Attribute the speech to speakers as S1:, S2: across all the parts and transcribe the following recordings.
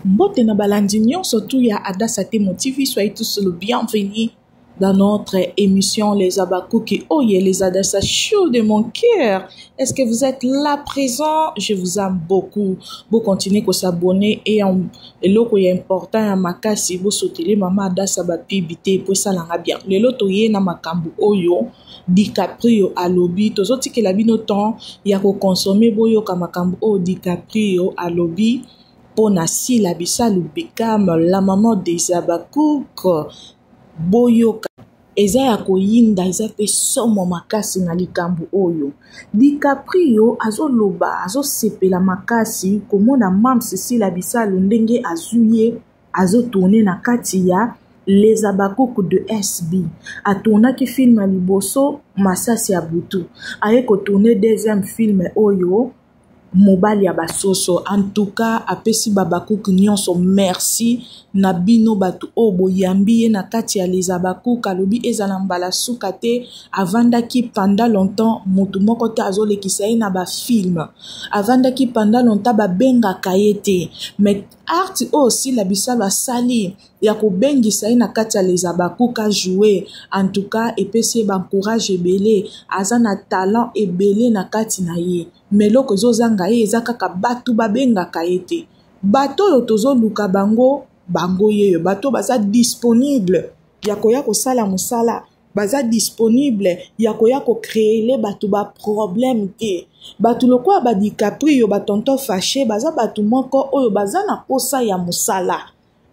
S1: Mbote na balandi nyonso tu ya Adassa Temo TV, soyez tous le bienvenu dans notre émission Les Abakuki. Oh yeah, les Adassa chaud de mon cœur. Est-ce que vous êtes là présent? Je vous aime beaucoup. Vous continuez à s'abonner et en eloko ya important ya makasi vous soutenez maman Adassa ba pibité pour ça langa bien. Le loto ye na makambu oyo DiCaprio alobi tozotikela bino temps ya ko consommer boyoka makambu oyo DiCaprio alobi. mpo na sila bisalu bekam la maman des abacouk boyoka eza ya koyinda eza mpe somo makasi na likambo oyo dicaprio azoloba azosepela makasi komona mams sila bisalu ndenge azwi ye azotourne na kati ya les abakuku de sb atournaki filme ya liboso masasi ya butu aye kotourne deuxième filme oyo mobali ya basoso antuka apesi babakuk nyonso merci na bino bato oyo boyambi ye na kati ya les abakuk alobi ezala mbala suka te avandaki panda longtemps motu moko te azolekisa ye na bafilme avandaki panda longtemps babengaka ye te mais art oyo sila bisalo asali ya kobengisa ye na kati ya les habacuc a joue en tout cas epesi ye bancourage ebele aza na talent ebele na kati na ye ma eloko ezozanga ye eza kaka bato babengaka ye te bato oyo tozoluka bango bango yeyo bato oyo baza disponible ya koya kosala mosala baza disponible ya koya kocreele bato baproblème te bato lokola badicaprio batonton fache baza bato moko oyo baza na mposa ya mosala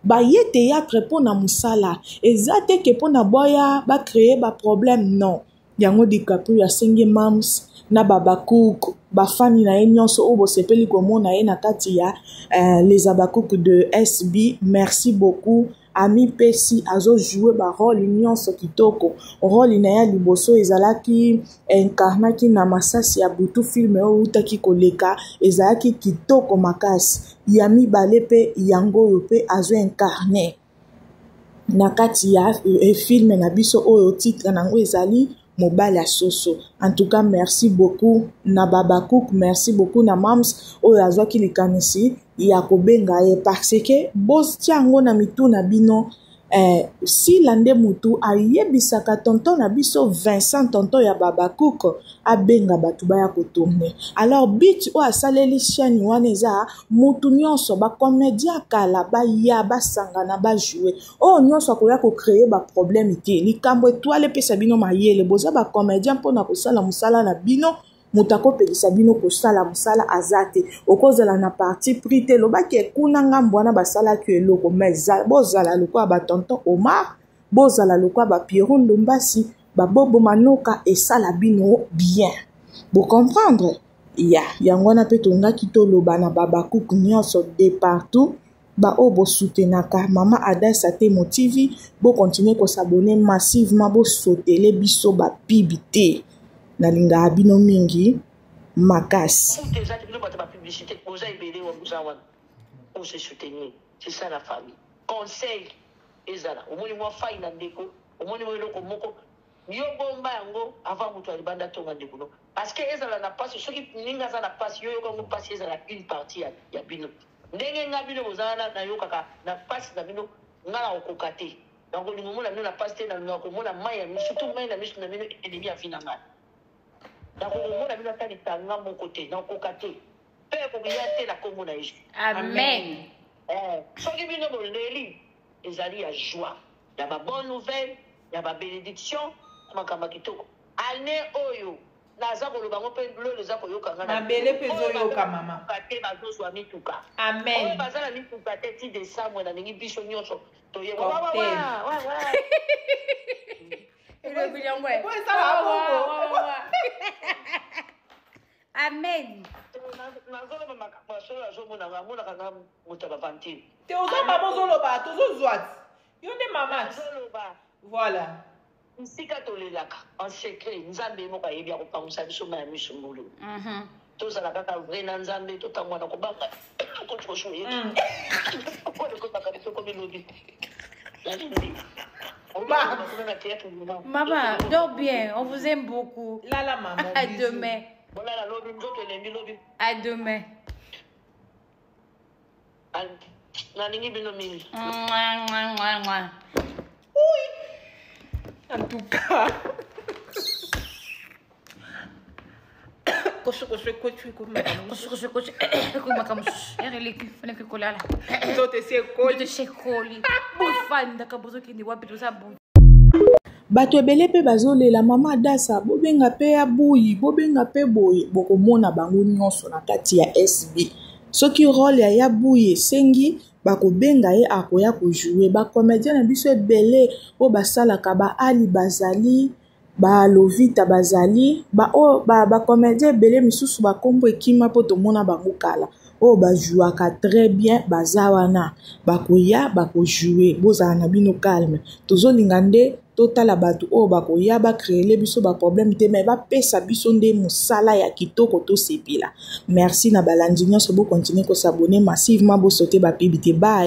S1: baye théâtre mpo na mosala eza te ke mpo na boya bacreye baproblème non yango dicaprio asengi mams na babacouk bafani na ye nyonso oyo bosepeli komona ye na kati ya uh, les abacouk de sb merci beaucoup amipesi azojoue barole nyonso kitoko role na ye ya liboso ezalaki incarnaki na masasi ya butu filme oyo eutaki koleka ezalaki kitoko makasi ya mibale mpe yango oyo mpe azo incarne na kati ya eh, filme na biso oyo titre na yango ezali mobali ya soso en tout cas merci beaucoup na babacook merci beaucoup na mams oyo azwaki likanisi ya kobenga ye parce que botia yango na mitu na bino Eh, sila nde mutu ayebisaka tonton na biso vincent tonton ya babacook abenga bato baya kotourne alors bit oyo asaleli chaine wana eza mutu nyonso bacomédien ya kala baya basangana bajoue oyo oh, nyonso akoya kocreye baproblème te likambo etoile epesa bino mayele boza bacomédien mpo na kosala mosala na bino moto akopekisa bino kosala mosala aza te okozala na parti pris te lobaki ekuna ngambo wana basalaki eloko mais bozala lokola batonton omar bozala lokola bapieron ndombasi babobo manoka esala bino bien bocomprendre ya yango wana mpe tongaki toloba na babakuk nyonso de partout baoyo bosutenaka mama ada satemo tv bokontinue kosabone massivement bosotele biso bapibi te nalingaka bino mingi makasi
S2: conseil ezala omoni mwa fai na ndeko omoni mwa eloko moko yo bomba yango avant moto ya libanda tonga ndeko no parce que ezala na mpasi soki ninga aza na mpasi yo yoka yango mpasi ezala une partie ya, ya bino Ndenge nga bino boza wana nayokaka na pasi na bino nga na kokoka te na kolinga omona bino na pasi te na lingaka komona mayi ya misu surtout mayi na misu na bino enemi ya vie na nga na kokomona bino ata litanga moko te na kokoka te pe ekokiya te na kombo na Yesu amen eh, soki bino boleli ezali ya joie ya ba bonne nouvelle ya ba benediction makambo kitoko année oyo Naza koloba yango pe lelo eza koyoka nga na mabele pe ezo yoka
S3: mama te bazo zwa
S2: mituka amen oyo baza
S3: na mituka
S2: te ti desamwe na ningi biso nyonso toye wa wa wa wa wa elobi yango e amen nazoloba
S3: makambo
S2: ya solo azomonaka amonaka nga moto ya bavantire te oza mama
S3: ozoloba tozozwa yo nde mama
S2: voilà
S3: Bisika
S2: tolelaka en secret nzambe ye moko ayebi akopangusa biso mayi ya misu ngulu. Tozala kaka vrai na nzambe tokamua na kobanga coach koshu ye. Oyo ekotaka biso komi lobi. Nalingi.
S3: Maman, dors bien, on vous aime beaucoup. Là, là,
S1: maman.
S3: À
S2: demain.
S3: À
S2: demain. nalingi
S3: bino mingi en tout cas kosokosokoekomaka mosusu ere eleki fanaki
S1: kolala nzoto esi ekoli bofandaka bozokende wapi toza bato ebele mpe bazolela mama adasa bobenga mpe ya buyi bobenga mpe boye bokomona bango nyonso na kati ya sb soki role ya ya buyi esengi bakobenga ye akoya kojoue bacomédien na biso ebele oyo basalaka baali bazali ba lovita bazali ba oyo ba ba comedien ebele misusu ba kombo ekima mpo tomona bango kala oyo ba jouaka très bien baza wana bakoya bakojoue bozala na bino calme tozolinga nde totala bato oyo bakoya bacreele biso baproblème te mai bapesa biso nde mosala ya kitoko tosepela merci na balandi nyonso bokontinue kosabone massivement bosote bapibi te bai